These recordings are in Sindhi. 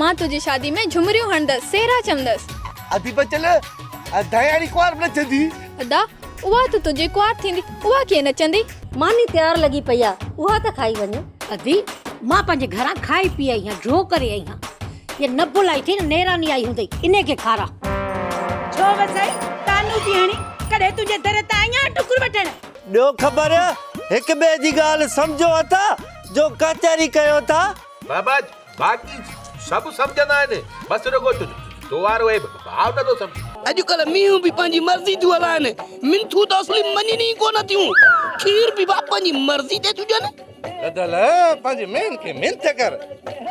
مان تنهنجي شادي ۾ جهمريون هڻندس سهرا چوندس. ادي بچل ادا ياري ڪنوار به نچندي. ادا اها ته تنهنجي ڪنوار ٿيندي اها ڪيئن نچندي. ماني تيار لڳي پئي آ اها ته کائي وڃ. ادي مان پنهنجي گهران کائي پي آئي هان جهو ڪري آئي هان هيء نه بلائي ٿي نه نيراني آئي هوندئي انهي کي کارا. ڇو وسائي تانو ٿي هڻي ڪڏهن تنهنجي در تان آئي آهيان ٽڪر وٺڻ. ڏيو خبر هڪ ٻئي جي ڳالهه سمجهو اٿا جو ڪچهري ڪيو ٿا. بابا باقي سڀ سمجهندا آهن، بس رڳو تو وارو اهي ڀاء نه ٿو سمجهين. اڄڪلهه مينهون به پنهنجي مرضي ٿيون هلائن، منٿون ته اصلي مڃين ئي ڪونه ٿيون، کير به ڀاء پنهنجي مرضي تي ٿيون ڏين. بدل پنهنجي مينهن کي منٿ ڪر،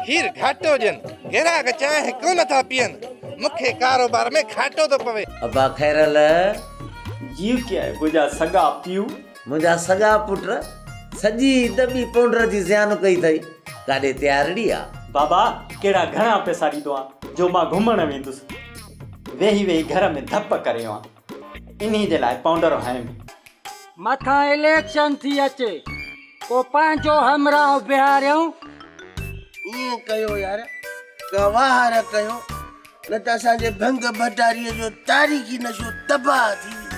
کير گهاٽو ڏين، گراهڪ چانهه ڪونه ٿا پيئن، مون کي ڪاروبار ۾ گهاٽو ٿو پوي. ابا خيرالله جيئن ڪيائين منهنجا سڳا پيء. منهنجا سڳا پٽ سڄي عيد ٻي پونڊر جي زيان ڪئي اٿئي، ڪاڏي تيارڙي آ؟ بابا ڪهڙا گهڻا پئسا ڏيندو آن جو مان گهمڻ ويندس، ويهي ويهي گهر ۾ ڌپ ڪريو آن، انهي جي لاء پونڊر هنيم. مٿان اليڪشن ٿي اچي پو پنهنجو همراهه بيهاريون. ائين ڪيو يار ڪا واهر ڪيو نه ته اسان جي ڀنگ ڀٽاري جو تاريخي نشو تباهه ٿي ويندو.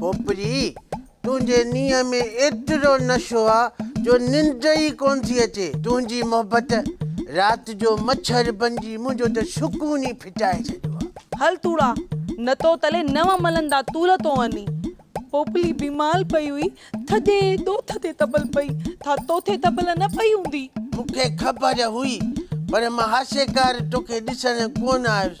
پوپري، تنهنجي نينهن ۾ ايترو نشو آ جو ننڊ ئي ڪونه ٿي اچي. تنهنجي محبت رات جو مڇر بنجي منهنجو ته سڪون ئي ڦٽائي ڇڏيو آ. هل توڙا، نه تو تلي نو ملندا تول تو اني. پوپلي بيمال پئي هئي، ٿڌي ڏوٿ تي تبل پئي، ٿا توٿي تبل نه پئي هوندي. مون کي خبر هئي، پر مان هاسيڪار توکي ڏسڻ ڪونه آيس.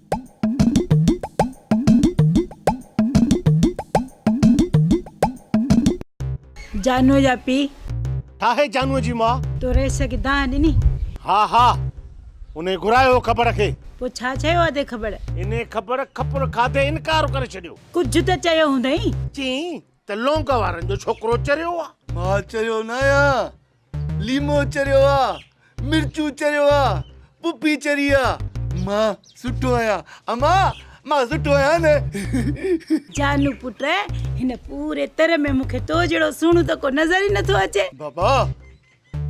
جانوء جا پيء. ٺاهي جانوء جي ماء. تو رئيس کي دانهن ڏني. ها ها انهي گهرايو کٻڙ کي. پوء ڇا چيو اٿئي کٻڙ؟ انهي کٻڙ کپر کاڌي انڪار ڪري ڇڏيو. ڪجهه ته چيو هوندئي. چيائين ته لونگ وارن جو ڇوڪرو چريو آ. مان چريو ناهيان. ليمو چريو آ، مرچون چريو آ، پڦي چري آ. مان سٺو آهيان اما، مان سٺو آهيان نه. جانو پٽ هن پوري تر ۾ مون کي تو جهڙو سهڻو ته ڪو نظر ئي نٿو اچي. بابا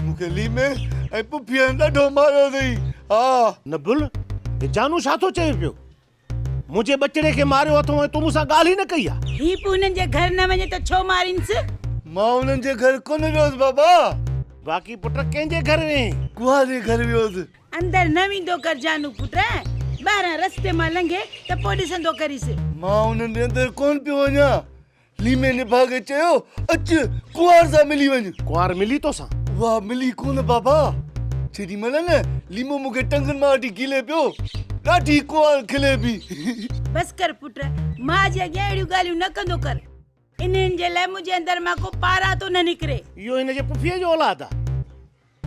مون کي ليمي ۽ پڦيء ڏاڍو ماريو اٿئي ها. نبل هي جانو ڇا ٿو چئي پيو. منهنجي ٻچڙي کي ماريو اٿئون ۽ تون مون سان ڳالهه ئي نه ڪئي آ. هي به انهن جي گهر نه وڃي ته ڇو مارينس؟ مان انهن جي گهر ڪونه ويوس بابا. باقي پٽ ڪنهن جي گهر ويئين؟ ڪوهه جي گهر ويوس. اندر نه ويندو ڪر جانو پٽ. ٻاهران رستي مان لنگهي ته پوء ڏسندو ڪريس. مان انهن جي اندر ڪونه پيو وڃان. ليمي نڀاڳ چيو، اچ، ڪنوار سان ملي وڃ. ڪنوار ملي توسان؟ اها ملي ڪونه بابا. جيڏي مهل نه ليمو مون کي ٽنگن مان وٺي کلي پيو، ڏاڍي ڪنوار کلي پي. بس ڪر پٽ، ماء جي اڳيان اهڙيون ڳالهيون نه ڪندو ڪر. انهن جي لاء منهنجي اندر مان ڪو پاران ٿو نه نڪري. اهو هن جي پڦيء جو اولاد آ.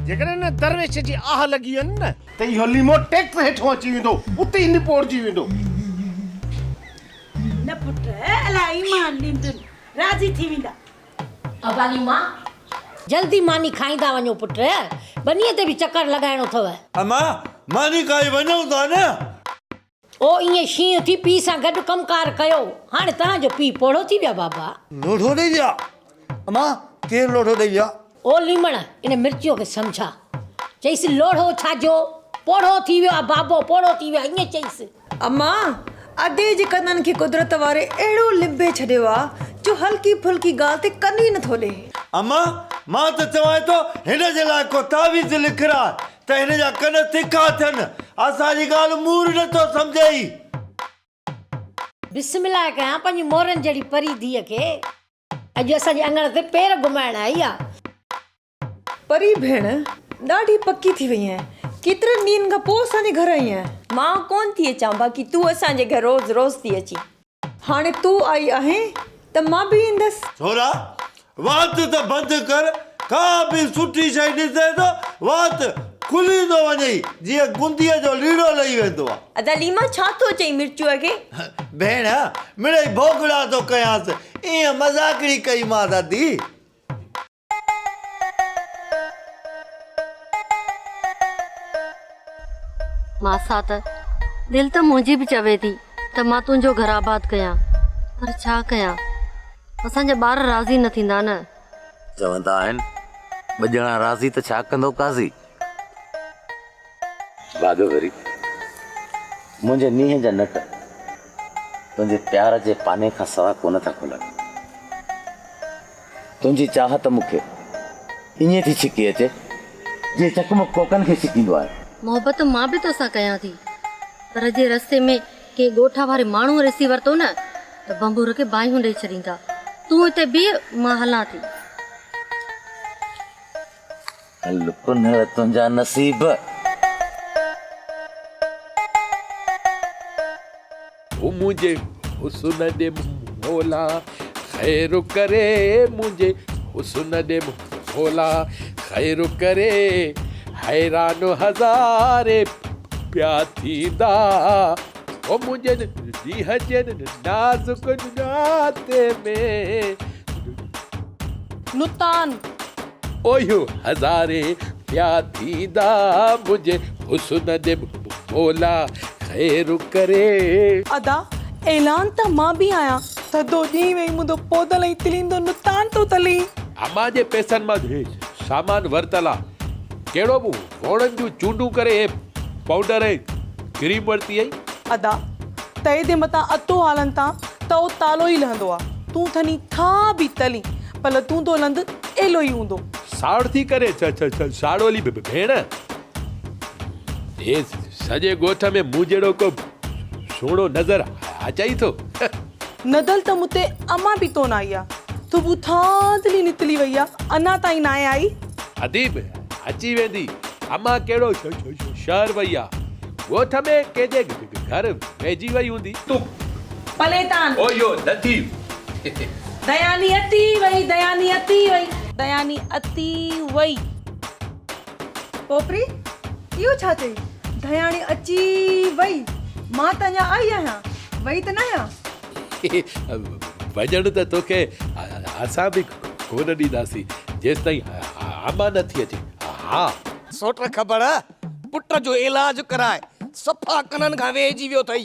جيڪڏهن ان درويش جي آهه لڳي ويندي نه. ته اهو ليمو ٽيڪس هيٺون اچي ويندو، اتي ئي نپورجي ويندو. نه پٽ، الاء ايمان ڏيندين، راضي ٿي ويندا. ابالي ماء، جلدي ماني کائيندا وڃو پٽ، ٻنيء تي به چڪر لڳائڻو اٿئو. امان، ماني کائي وڃون ٿا نه. او ائين شينهن ٿي پيء سان گڏ ڪم ڪار ڪيو. هاڻي توهان جو پيء پوڙهو ٿي ويو آ بابا. لوڙهو ڏئي ويو آ. اما ڪير لوڙهو ڏئي ويو آ؟ او ليمڻ ان مرچيء کي سمجهاء. چئيس لوڙهو ڇا جو پوڙهو ٿي ويو آ بابو پوڙهو ٿي ويو آ ائين چئيس. اما ادي جي ڪنن کي قدرت واري اهڙو لنبي ڇڏيو آ جو هلڪي ڦلڪي ڳالهه تي ڪن ئي نٿو ڏي. اما مان ته چوانء ٿو هن جي لاء ڪو تعويذ لکراء. ته هن جا ڪن تکا ٿين. اسان جي ڳالهه مور نه ٿو سمجهي. بسم الله ڪيان پنهنجي مورن جهڙي پري ڌيء کي. اڄ اسان جي اڱڻ تي پير گهمائڻ آئي آ. پري ڀيڻ ڏاڍي پڪي ٿي وئي آهين. ڪيترن ڏينهن کان پوء اسان جي گهر آئي آهين. مان ڪونه ٿي اچان باقي تون اسان جي گهر روز روز ٿي اچين. هاڻي تون آئي آهين ته مان به ايندس. ڇورا، وات ته بند ڪر، ڪا به سٺي شيء ڏسين ته وات کلي ٿو وڃئي، جيئن گنديء جو ليڙو لهي ويندو آ. ادا ليما ڇا ٿو چئين مرچوء کي؟ ڀيڻ، مڙئي ڀوڳڙا ٿو ڪيانس، ايئن مذاقڙي ڪئيمانس ادي. ماسا ته دل ته منهنجي به چوي ٿي ته مان تنهنجو گهر آباد ڪيان پر ڇا ڪيان اسان جا ٻار راضي نه ٿيندا نه. چوندا آهن ٻه ڄڻا راضي ته ڇا ڪندو قاضي. ڀاڳويري منهنجي نينهن جا نٽ تنهنجي پيار جي پاني کان سوا ڪونه ٿا کلن. تنهنجي چاهت مون کي ائين ٿي ڇڪي اچي، جيئن چقمق ڪوڪن کي ڇڪيندو آهي. محبت مان به توسان ڪيان ٿي، پر جي رستي ۾ ڪنهن ڳوٺ واري ماڻهوء ڏسي ورتو نه ته ڀنڀور کي باهيون ڏئي ڇڏيندا. تون هتي بيهه، مان هلان ٿي. ڀل ڪنهل تنهنجا نصيب. هو منهنجي حسن ڏي مولا خير ڪري منهنجي حسن ڏي مولا خير ڪري حيران هزارين پيا ٿيندا هو منهنجي ڏينهن جي نازڪ ڏاتي ۾. نتان. اوهيو هزاري پيا ٿيندا منهنجي حسن جي مولا خير ڪري. ادا اعلان ته مان به آهيان. ٿڌو ڏينهن وئي مندو پودل ۽ تليندو نتان ٿو تلي. امان جي پئسن مان سامان ورتل آ ڪهڙو به هو. گهوڙن جون چونڊون ڪري هي پائونڊر ۽ ڪريم ورتي اهي. ادا! تئي تي متان اتو آلن تان ته او تالو ئي لهندو آ. تون ٿني ٿا به تلين پر لتون تو لند ايلو ئي هوندو. ساڙ ٿي ڪرين ساڙولي ڀيڻ! هي سڄي ڳوٺ ۾ مون جهڙو ڪو سهڻو نظر اچئي ٿو. ندل ته مون تي امان به ڪونه آئي آ. صبح ٿاڌلي نڪلي وئي آ اڃا تائين ناهي آئي. اديب، اچي ويندي، امان ڪهڙو شهر وئي آ. ڳوٺ ۾ ڪنهن جي گهر ويجهي وئي هوندي. تون پلي تان. او يو نديب. دياني اتي وئي، دياني اتي وئي. دياني اتي وئي. پوپري، اهو ڇا چئي؟ ڌياڻي اچي وئي. مان ته اڃا آئي آهيان، وئي ته ناهيان. وڃڻ ته توکي اسان به ڪونه ڏينداسين، جيستائين امان نه ٿي اچي. ها. سوٽ کٻڙ، پٽ جو علاج ڪرائي صفا ڪنن کان ويهجي ويو اٿئي.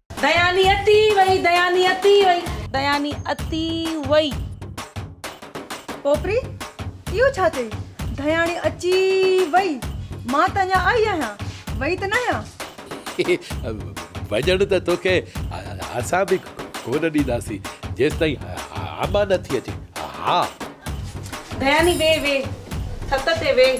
دياني اتي وئي دياني اتي وئي. دياني اتي وئي. پوپري، اهو ڇا چئي؟ دياني اچي وئي. مان ته اڃا آئي آهيان. وئي ته ناهيان. وڃڻ ته توکي اسان به ڪونه ڏينداسين جيستائين امان نٿي اچي. ها. دياني ويهه ويهه. ڇت تي ويهه.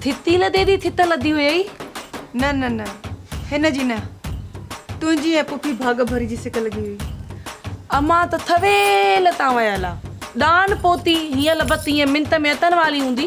ٿتي لڌي ٿي ٿت لڌي هيئي. نه نه نه هن جي نه تنهنجي ۽ پڦي ڀاڳ ڀري جي سڪ لڳي هئي. امان ته ٿويل تان ويل آ. ڏان پوتي هيئن لبت هيئن منت ميتن واري هوندي.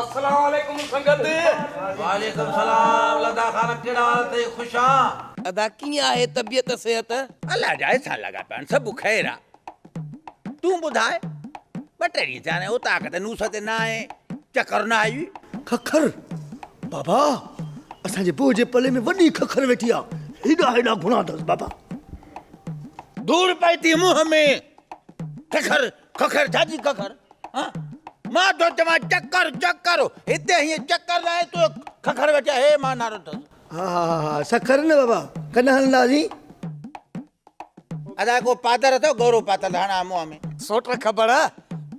السلام عليڪم سنگت. وعليڪم سلام لدا خان ڪهڙا حال اٿئي خوش آن. لدا ڪيئن آهي طبيعت صحت. الله جا احسان لڳا پيا آهن سڀ خير آ تون ٻڌاء ٻه ٽي ڏينهن ٿيا آهن اوطاق تي نوس تي نه آئين چڪر نه آئي. ککر بابا اسان جي بوء جي پلي ۾ وڏي ککر ويٺي آ هيڏا هيڏا گهڻا اٿس بابا. ڌوڙ پئي ٿي منهن ۾ ککر. ککر ڇاجي ککر ها مان ٿو چوان چڪر چڪر هتي هيئن چڪر ناهي تو ککر ويٺا هي مان نارو اٿس. ها ها ها ها سکر نه بابا ڪڏهن هلنداسين. ادا ڪو پادر اٿو گورو پاتل هڻا منهن ۾. سوٽ کبڙ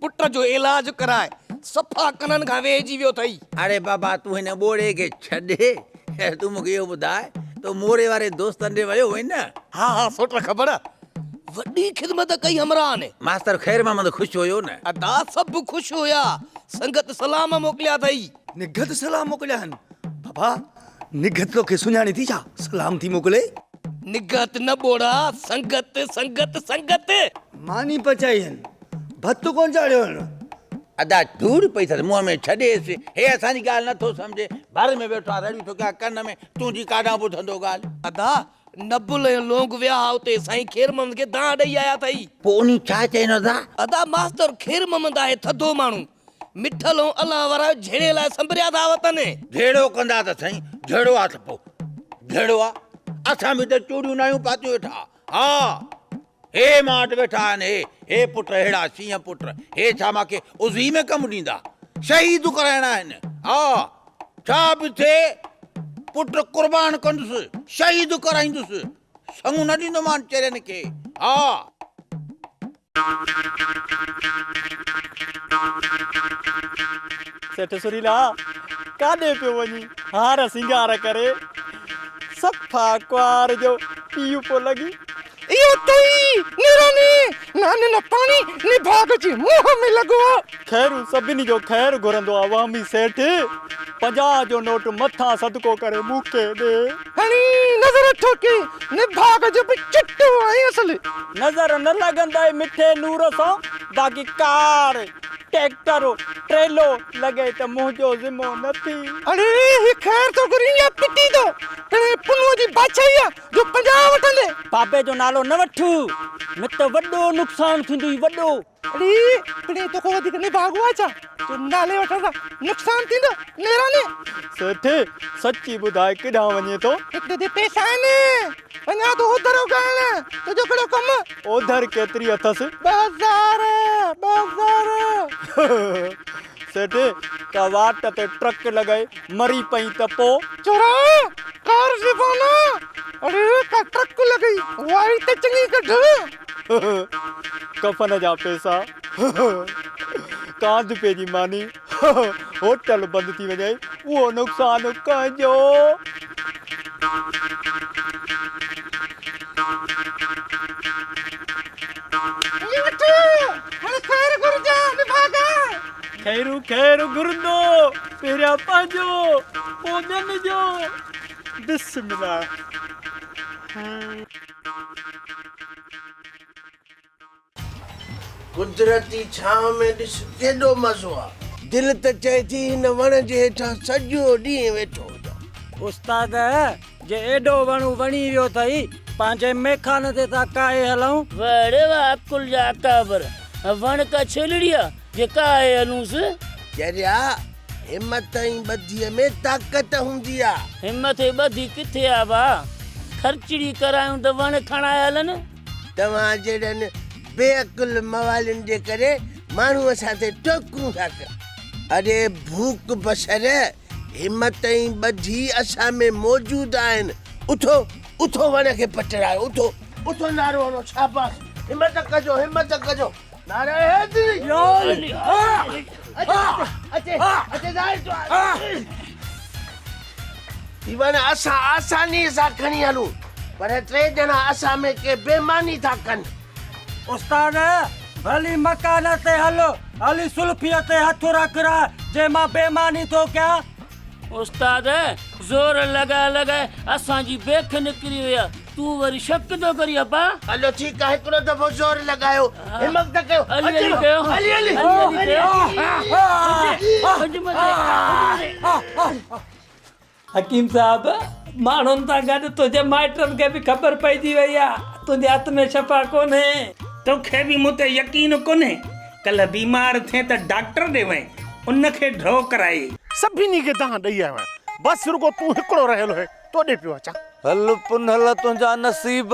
پٽ جو علاج ڪرائي صفا ڪنن کان ويهجي ويو اٿئي. اڙي بابا تون هن ٻوڙي کي ڇڏ تون مونکي اهو ٻڌاء تو موري واري دوستن ڏي ويو هئين نه. ها ها سوٽ کبڙ. وڏي خدمت ڪئي همراهه ني. ماستر خير محمد خوش هيو نه. ادا سڀ خوش هيا. سنگت سلام موڪليا اٿئي. نگهت سلام موڪليا آهن. بابا نگهت توکي سڃاڻي ٿي ڇا سلام ٿي موڪلي. نگهت نه ٻوڙا سنگت سنگت سنگت. ماني پچائي هن ڀت ڪونه چاڙهيو هن. ادا ڌوڙ پئي اٿس منهن ۾ ڇڏيس هي اسان جي ڳالهه نه ٿو سمجهي ڀر ۾ ويٺو آ رڙيون ٿو ڪيا ڪن ۾ تون جي ڪاڏانهن ٻڌندو ڳالهه. ادا نبل ۽ لونگ ويا ها اتي. سائين خير محمد کي دانهن ڏئي آيا اٿئي. پوء انهي ڇا چين ادا؟ ادا ماستر خير محمد آهي ٿڌو ماڻهو. مٺل ۽ الله وارا جهيڙي لاء سنبريا ٿا وتن. جهيڙو ڪندا ته سائين جهيڙو آ ته پوء جهيڙو آ. اسان به ته چوڙيون ناهيون پاتيون ويٺا. ها. هي مان وٽ ويٺا آهن هي، هي پٽ اهڙا شينهن پٽ، هي ڇا مان کي عضوي ۾ ڪم ڏيندا؟ شهيد ڪرائڻا آهن، ها، ڇا به ٿئي، پٽ قربان ڪندس، شهيد ڪرائيندس، سڱ نه ڏيندومان چرين کي، ها. سيٺ سريلا، ڪاڏي پيو وڃين هار سينگار ڪري، صفا ڪنوار جو پيء پيو لڳين. اهو تئي نيراني ناني نه پاڻي نڀاڳ جي منهن ۾ لڳو آ. خيرون سڀني جو خير گهرندو آ وهمي سيٺ پنجاهه جو نوٽ مٿان صدقو ڪري مون کي ڏي. هڻي نظر ٺوڪي نڀاڳ جو به چٽو ۽ اصلي. نظر نه لڳندئي مٺي نور سان باقي ڪار ٽيڪٽر ٽريلو لڳئي ته منهنجو ذمو نه ٿي. اڙي هي خير ٿو گهرين يا پٽي ٿو پڻ هي پنهونء جي بادشاهي آ جو پنجاهه وٺندي. بابي جو نالو نه وٺ نه ته وڏو نقصان ٿيندوئي وڏو. اڙي پڻي توکان وڌيڪ نڀاڳو آهي ڇا جو نالي وٺڻ سان نقصان ٿيندو ميراڻي. سيٺ سچي ٻڌاء ڪيڏانهن وڃين ٿو. هڪ ته تي پئسا آهن وڃان ٿو اوڌرو ڪرڻ تنهنجو ڪهڙو ڪم. اوڌر ڪيتري اٿس. ٻه هزار ٻه هزار. سيٺ ڪا واٽ تي ٽرڪ لڳائي مري پئي ته پو. چورا! ڪار زبانا! اڙي ڪا ٽرڪ لڳئي وائي ته چڱي ڪڍ. ڪفن جا پيسا. ڪانڌپي جي ماني. هوٽل بند ٿي وڃي اهو نقصان ڪنهن جو. جي وٺ، هاڻي خير گهرجان، نڀاڳان. خير خير گهرندو، پهريان پنهنجو، پوء ٻين جو. بسم الله. قدرتي ڇانو ۾ ڏس ڪيڏو مزو آ. دل ته چئي ٿي هن وڻ جي هيٺان سڄو ڏينهن ويٺو هجان. استاد جي ايڏو وڻون وڻي ويو ٿئي، پنهنجي ميخانه تي ٿا ڪاهي هلون. وڙي واه عقل جا اڪابر، وڻ ڪا ڇيلڙيا، جي ڪاهي هلونس. چريا، همٿ ۽ ٻڌيء ۾ طاقت هوندي آ. همٿ ۽ ٻڌي ڪٿي آ واه، خرچڙي ڪرايون ته وڻ کڻائي هلن. توهان جهڙن بي عقل موالين جي ڪري ماڻهوء سان تي ٽوڪون ٿا ڪن. اڙي ڀوڪ بشر! همت ۽ ٻڌي اسان ۾ موجود آهن. اٿو، اٿو وڻ کي پٽرايو، اٿو، اٿو نعرو هڻو، شاباس، همت ڪجو، همت ڪجو، نعره حيدري! هي وڻ اسان آسانيء سان کڻي هلون، پر ٽي ڄڻا اسان ۾ ڪي بيماني ٿا ڪن. استاد! ڀلي مڪان تي هل، هلي سلفيء تي هٿ رک رها، جي مان بي ماني ٿو ڪيان. استاد! زور لڳائي لڳائي اسان جي بيک نڪري وئي آ، تون وري شڪ ٿو ڪرين ابا! هلو ٺيڪ آ، هڪڙو دفعو زور لڳايو، همت نه ڪيو، اچو هلي هلي! حڪيم صاحب! ماڻهن سان گڏ تنهنجي مائٽن کي به خبر پئجي وئي آ، تنهنجي هٿ ۾ شفا ڪونهي. توکي به مون تي يقين ڪونهي. ڪلهه بيمار ٿئين ته ڊاڪٽر ڏي وئين، ان کي ڍؤ ڪرائي. سڀني کي دانهن ڏئي آيو آهيان. بس رڳو تون هڪڙو رهيل هئين، توڏي پيو اچان. هل پنهل تنهنجا نصيب.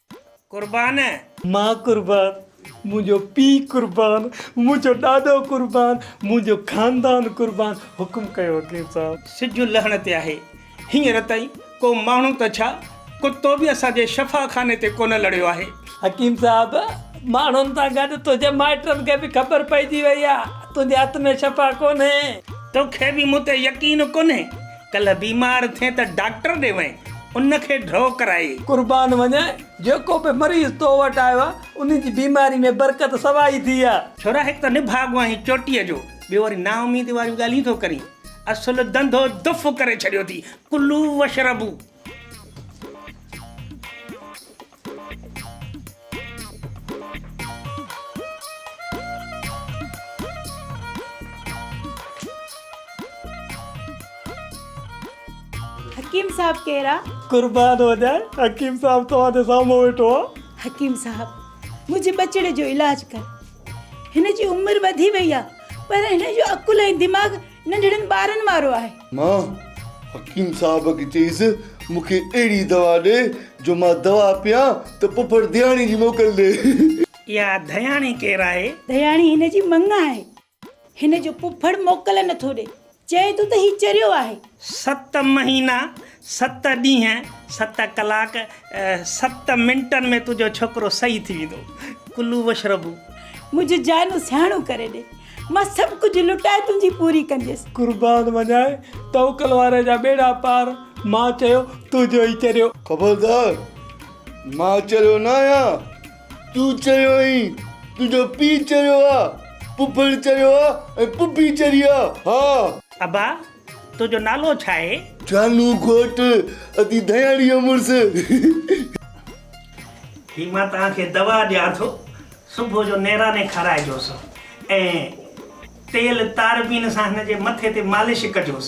قربان. ماء قربان، منهنجو پيء قربان، منهنجو ڏاڏو قربان، منهنجو خاندان قربان، حڪم ڪيو وڪيل صاحب. سج لهڻ تي آهي. هينئر تائين ڪو ماڻهو ته ڇا ڪتو به اسان جي شفا خاني تي ڪونه لڙيو آهي. حڪيم صاحب، ماڻهن سان گڏ تنهنجي مائٽن کي به خبر پئجي وئي آهي، تنهنجي هٿ ۾ شفا ڪونهي. توکي به مون تي يقين ڪونهي. ڪلهه بيمار ٿين ته ڊاڪٽر ڏي وڃ، ان کي ڍؤ ڪرائي. قربان وڃ، جيڪو به مريض تو وٽ آيو آهي، ان جي بيماري ۾ برڪت سوا ئي ٿي آهي. ڇورا هڪ ته نڀاڳو آهين چوٽيء جو، ٻيو وري نااميدي واريون ڳالهيون ٿو ڪرين. اصل ڌنڌو دڦ ڪري ڇڏيو ٿي. ڪلو واشربو. حڪيم صاحب ڪير آ؟ قربان هجان حڪيم صاحب توهان جي سامهون ويٺو آ. حڪيم صاحب منهنجي ٻچڙي جو علاج ڪر هن جي عمر وڌي وئي آ پر هن جو عقل ۽ دماغ ننڍڙن ٻارن وارو آهي. مان حڪيم صاحب کي چيس مون کي اهڙي دوا ڏي جو مان دوا پيان ته پڦر ڌياڻي جي موڪل ڏي. اها ڌياڻي ڪير آهي؟ ڌياڻي هن جي مڱ آهي. هن جو پڦڙ موڪل نٿو ڏي. چئي ٿو ته هي چريو آهي. ست مهينا ست ڏينهن ست ڪلاڪ ست منٽن ۾ تنهنجو ڇوڪرو صحيح ٿي ويندو ڪلو وشربو. منهنجي جانو سياڻو ڪري ڏي مان سڀ ڪجهه لٽائي تنهنجي پوري ڪنديس. قربان وڃاء توڪل واري جا ٻيڙا پار مان چيو تون جو ئي چريو. خبردار مان چريو نه آهيان تون چريو آهين تنهنجو پيء چريو آهي پڦڙ چريو آهي ۽ پڦي چري آهي ها. ابا تنهنجو نالو ڇا آهي؟ جانو گهوٽ ادي ڌياڻيء جو مڙس. هي مان توهان کي دوا ڏيان ٿو، صبح جو نيراني کارائجوس ۽ تيل تاربين سان هن جي مٿي تي مالش ڪجوس.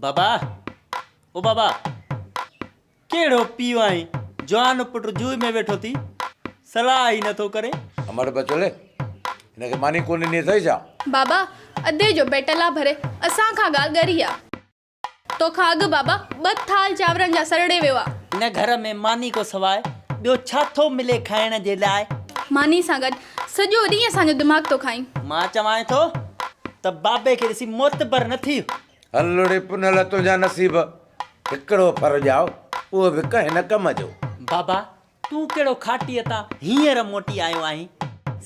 بابا! او بابا! ڪهڙو پيء آهين، جوان پٽ جوء ۾ ويٺو ٿي، صلاح ئي نٿو ڪرين. امڙ بچڙي! هن کي ماني ڪونه ڏني اٿئي ڇا؟ بابا! ادي جو بيٽلا ڀري اسان کان ڳالهه ڳري آ. توکان اڳ بابا ٻه ٿال چانورن جا سرڙي ويو آ. هن گهر ۾ ماني کان سواء ٻيو ڇا ٿو ملي کائڻ جي لاء؟ ماني سان گڏ سڄو ڏينهن اسان جو دماغ ٿو کائين. مان چوانء ٿو ته بابي کي ڏسي معتبر نه ٿي. هل لڙي پنهل تنهنجا نصيب هڪڙو ڦر ڄائو اهو به ڪنهن نه ڪم جو. بابا تون ڪهڙو کاٽيء تان هينئر موٽي آيو آهين؟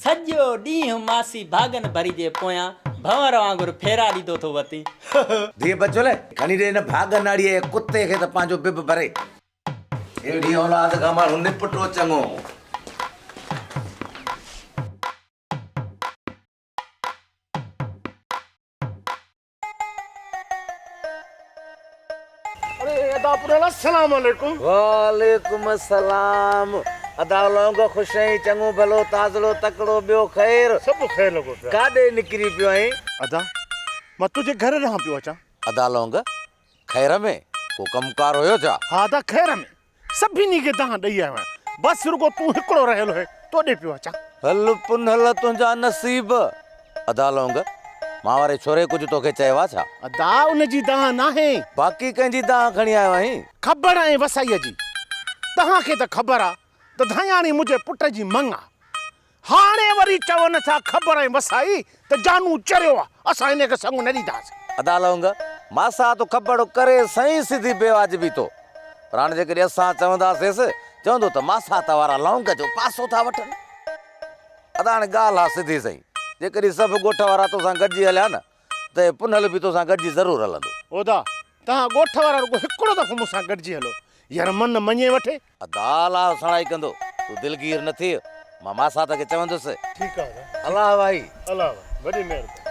سڄو ڏينهن ماسي ڀاڳن ڀري جي پويان ڀنور وانگر ڦيرا ڏيندو ٿو وتين. ڌيء بچول، کڻي ڏي هن ڀاڳ ناڙيء جي ڪتي کي ته پنهنجو بب ڀري. اهڙيء اولاد کان ماڻهو نپٽو چڱو. وعليڪم السلام ادا لونگ خوش آهين چڱو ڀلو تازڙو تڪڙو ٻيو خير ڪاڏي نڪري پيو آهين. ادا مان تنهنجي گهر ڏانهن پيو اچان. ادا لونگ خير ۾ ڪو ڪم ڪار هيو ڇا. ها ادا خير ۾. سڀني کي دانهن ڏئي آيو آهيان. بس رڳو تون هڪڙو رهيل هئين، تو ڏي پيو اچان. هل پنهل تنهنجا نصيب. ادا لونگ، مان واري ڇوري ڪجهه توکي چيو آ ڇا؟ ادا ان جي دانهن ناهي. باقي ڪنهن جي دانهن کڻي آيو آهين؟ کبڙ ۽ وسائيء جي. توهان کي ته خبر آ ته ڌاياڻي منهنجي پٽ جي مڱ آ. هاڻي وري چون ٿا خبر ۽ وسائي ته جانو چريو آ اسان انهي کي سڱ نه ڏينداسين. ادا لونگ، ماسا تون کبڙ ڪري سائين سڌي بي واجبي تو پر هاڻي جيڪڏهن اسان چونداسيس چوندو ته ماسا ته وارا لونگ جو پاسو ٿا وٺن. ادا هاڻي ڳالهه آ سڌي سائين جيڪڏهن سڀ ڳوٺ وارا توسان گڏجي هليا نه ته هي پنهل به توسان گڏجي ضرور هلندو. ادا، توهان ڳوٺ وارا رڳو هڪڙو دفعو مون سان گڏجي هلو. يار من نه مڃي وٺي. ادا، الله سڻائي ڪندو. تون دلگير نه ٿي. مان ماسات کي چوندس. ٺيڪ آ ادا. الله وائي. الله وائي. وڏي مهرباني.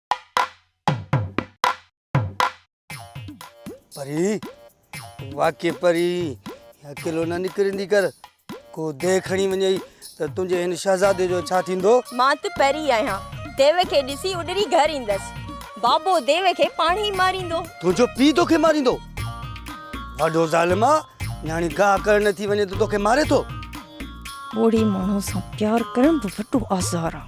پري واقعي پري اڪيلو نه نڪرندي ڪر ڪو دي کڻي وڃي ته تنهنجي هن شهزادي جو ڇا ٿيندو مان ته پري آهيان ديو کي ڏسي اڏري گهر ايندس بابو ديو کي پاڻ ئي ماريندو تنهنجو پي توکي ماريندو وڏو ظالم آ نياڻي گاهه ڪرڻ نه ٿي وڃي ته توکي ماري ٿو ٻوڙي ماڻهو سان پيار ڪرڻ به وڏو آزار آ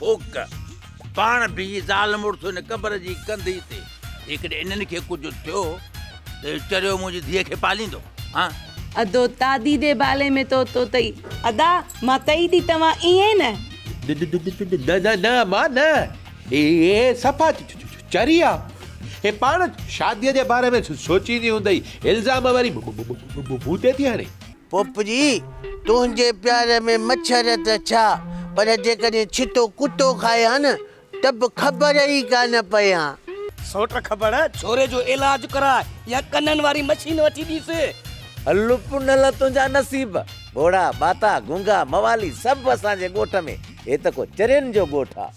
ڦوڪ، پاڻ بيهي زال مڙس ان قبر جي ڪنڌيء تي، جيڪڏهن انهن کي ڪجهه ٿيو ته اهو چريو منهنجي ڌيء کي پاليندو، ها؟ ادو، تادي دي بالي مين تو تو تئي. ادا، مان تئي ٿي توهان ائين نه. نه نه نه مان نه، هي صفا چري آ، هي پاڻ شاديء جي باري ۾ سوچيندي هوندئي، الزام وري مون تي ٿي هڻي. پوپٽي، تنهنجي پيار ۾ مڇر ته ڇا، پر جيڪڏهن ڇتو ڪتو کائي ها نه، ته به خبر ئي ڪانه پئي ها. سوٽ خبر ڇوري جو علاج ڪراء يا ڪنن واري مشين وٺي ڏيس. هل پنهل تنهنجا نصيب. ٻوڙا، ٻاتا، گونگا، موالي سڀ اسان جي ڳوٺ ۾. هي ته ڪو چرين جو ڳوٺ آ.